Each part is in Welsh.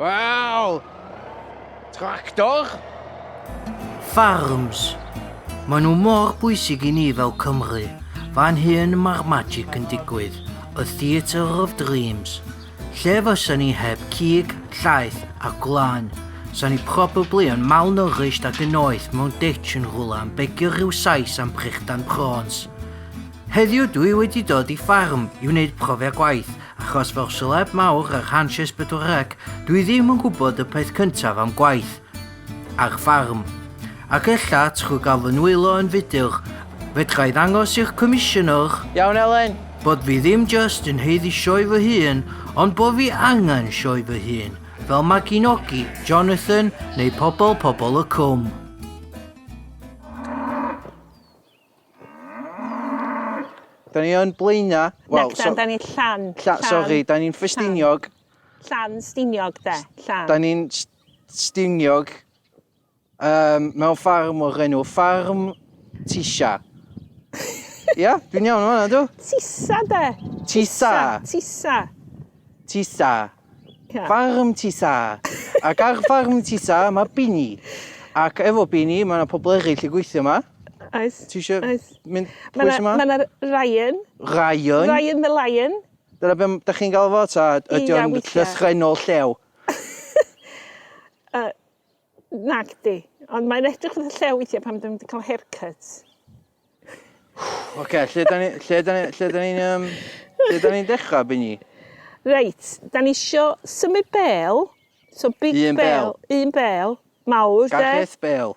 Wel! Tractor? Farms. Mae nhw mor bwysig i ni fel Cymru. Fan hyn mae'r magic yn digwydd. A Theatre of Dreams. Lle fysa ni heb cig, llaeth a gwlan? Sa ni probably yn malnourished ac yn oeth mewn ditch yn rhywle am begio rhyw sais am prichdan prawns. Heddiw dwi wedi dod i ffarm i wneud profiad gwaith Achos fel seleb mawr ar Hanches Pedwar Rec, dwi ddim yn gwybod y peth cyntaf am gwaith ar ffarm. Ac ella, trwy gael fy nwylo yn fuddiol, fedra i ddangos i'r Comisiynwr, Iawn Elen! bod fi ddim jyst yn haeddu sioe fy hun, ond bod fi angen sioe fy hun, fel Maginogi, Jonathan neu Pobol Pobol y Cwm. Da ni yn Blaena. Wel, so... Da ni llan. Llan, sori, da ni'n ffestiniog. Llan stiniog, de, llan. Da ni'n stiniog um, mewn ffarm o'r enw Ffarm Tisha. Ia, dwi'n iawn o'n fanna, dw? Tisa, de. Tisa. Tisa. Tisa. Ca. Ffarm Tisa. Ac ar ffarm Tisa mae Bini. Ac efo Bini mae yna pobl eraill yn gweithio yma. Oes. Ti eisiau Oes. mynd pwys yma? Mae yna Ryan. Ryan? Ryan the Lion. Dyna beth ydych chi'n gael fo ta ydy o'n llythrenol llew? uh, Nagdi, ond mae'n edrych fatha llew weithiau pan dwi'n mynd i cael haircut. Oce, lle da ni, lle da ni, lle da ni'n, um, lle da ni'n dechrau, Bini? Reit, da ni isio symud bel, so big un bel, bel, un bel, mawr, de? Gareth Bel.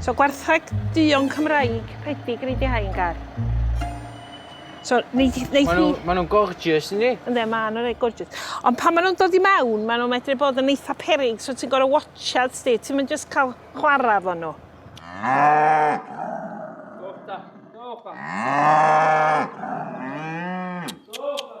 So gwertheg duon Cymraeg rhedig yn ei di hain gar. So neith hi... Maen nhw, maen nhw'n gorgeous yndi? Ynddi, maen nhw'n rhaid gorgeous. Ond pan maen nhw'n dod i mewn, maen nhw'n medru bod yn eitha perig, so ti'n gorau watchad sti, ti'n mynd jyst cael chwarae fo nhw. Sofa, sofa. Sofa.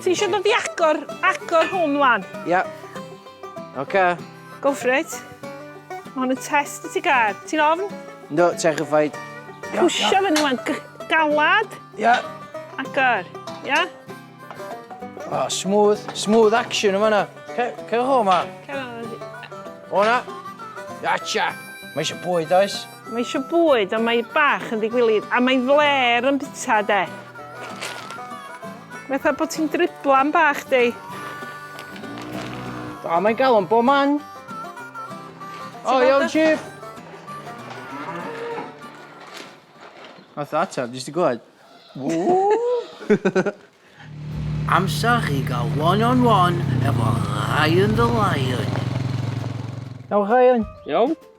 Ti eisiau dod i agor, agor hwn wan? Ia. Yeah. Oce. Okay. Go for it. Mae hwn yn test i ti gair. Ti'n ofn? No, terrified. Pwysio yeah. fyny wan. Galad. Ia. Yeah. Agor. Ia. Yeah. Oh, smooth, smooth action yma na. Cerwch o yma. Cerwch o yma. O na. Iacha. Mae eisiau bwyd oes. Mae eisiau bwyd ond mae bach yn ddigwilyd a mae flêr yn bita de. Mae fatha bod ti'n driblan bach di. A mae'n galon bob man. O iawn chief. Nath o ateb, jyst i glywed. Ww! Amser i gael one on one efo Ryan the Lion. Iawn Ryan? Iawn?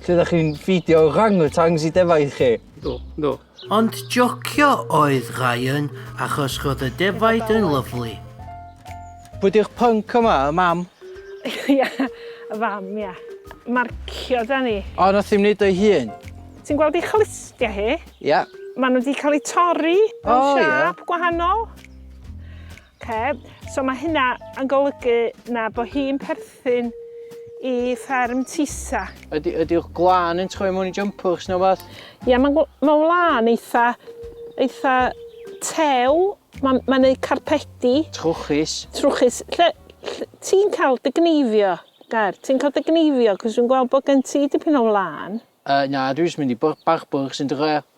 Lle ydych chi'n ffidio orangutans i defaid chi? Do, do. Ond jocio oedd Ryan achos roedd y defaid yn lyfli. Pwy di'r punk yma, y mam? Ia, y fam, ia. Marcio da ni. O, nath hi'n wneud o'i hun? Ti'n gweld ei chlustiau hi? Ia. Maen nhw wedi cael eu torri mewn siap gwahanol. Oce, so mae hynna yn golygu na bod hi'n perthyn i fferm Tisa. Ydy, ydy'ch glân yn troi mewn i jympwrs neu beth? Ie, mae'n ma wlân eitha, eitha tew, mae'n ma neud carpedi. Trwchus. Trwchus. Lle, lle ti'n cael dy gneifio, Gair? Ti'n cael dy gneifio, cos dwi'n gweld bod gen ti dipyn o wlân. Uh, na, dwi'n mynd i barbwr sy'n dy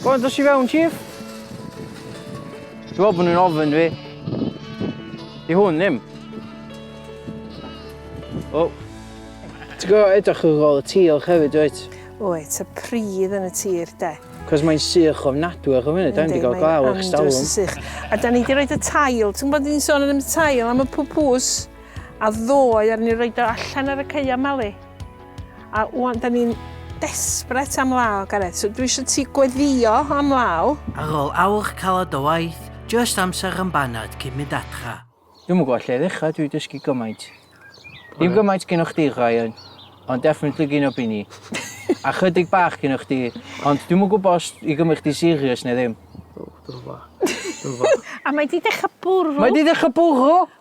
Go on, dos i fewn, Chief. Dwi'n meddwl bod nhw'n ofyn fi. I hwn ddim. O. Oh. Ti'n gwybod edrych yn ôl y tir hefyd, wyt? Wyt, y pridd yn y tir, de. Cos mae'n sych o ofnadwy ar y funud, da ni wedi cael glaw eich stalwm. A da ni wedi rhoi y tail, ti'n gwybod ni'n sôn yn y tail am y pwpws, a ddoe ar ni rhoi o allan ar y ceia mali. A wan, da ni'n desbret am law, Gareth. So dwi eisiau ti gweddio am law. Ar ôl awr caled o waith, jyst amser yn baned cyn mynd adra. Dwi'm yn gwybod lle i ddechrau, dwi 'di dysgu gymaint. Dim gymaint gynno chdi, Ryan, ond definitely gynno Bini. A chydig bach gynno chdi, ond dwi'm yn gwybod os i gymryd chdi serious neu ddim. O, dwi'm yn gwybod. Dwi'm yn gwybod. A mae 'di dechrau bwrw. Mae 'di dechrau bwrw!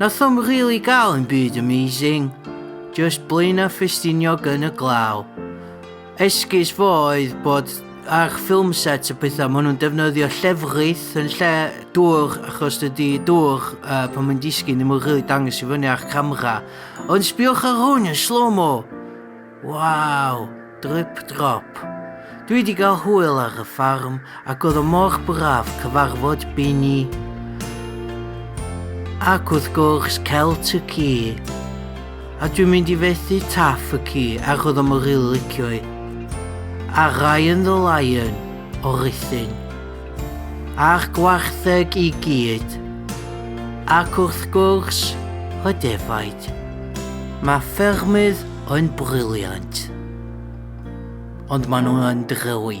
Nath o'm rili gael yn byd amazing, just Blaenau Ffestiniog yn y glaw. Esgus fo oedd bod ar ffilm set y pethau, maen nhw'n defnyddio llefrith yn lle dŵr, achos dydy dŵr uh, pan mae'n disgyn ddim yn rili dangos i fyny ar camera. Ond sbiwch ar hwn yn slow-mo! Waw! Drip drop! Dwi di gael hwyl ar y ffarm ac oedd o mor braf cyfarfod Bini ac wrth gwrs Celt y ci. A dwi'n mynd i fethu Taff y ci ac oedd o mor rili licio i. A Ryan the Lion o Ruthin. A'r gwartheg i gyd. Ac wrth gwrs, y defaid. Mae ffermydd yn brilliant. Ond maen nhw yn drewi.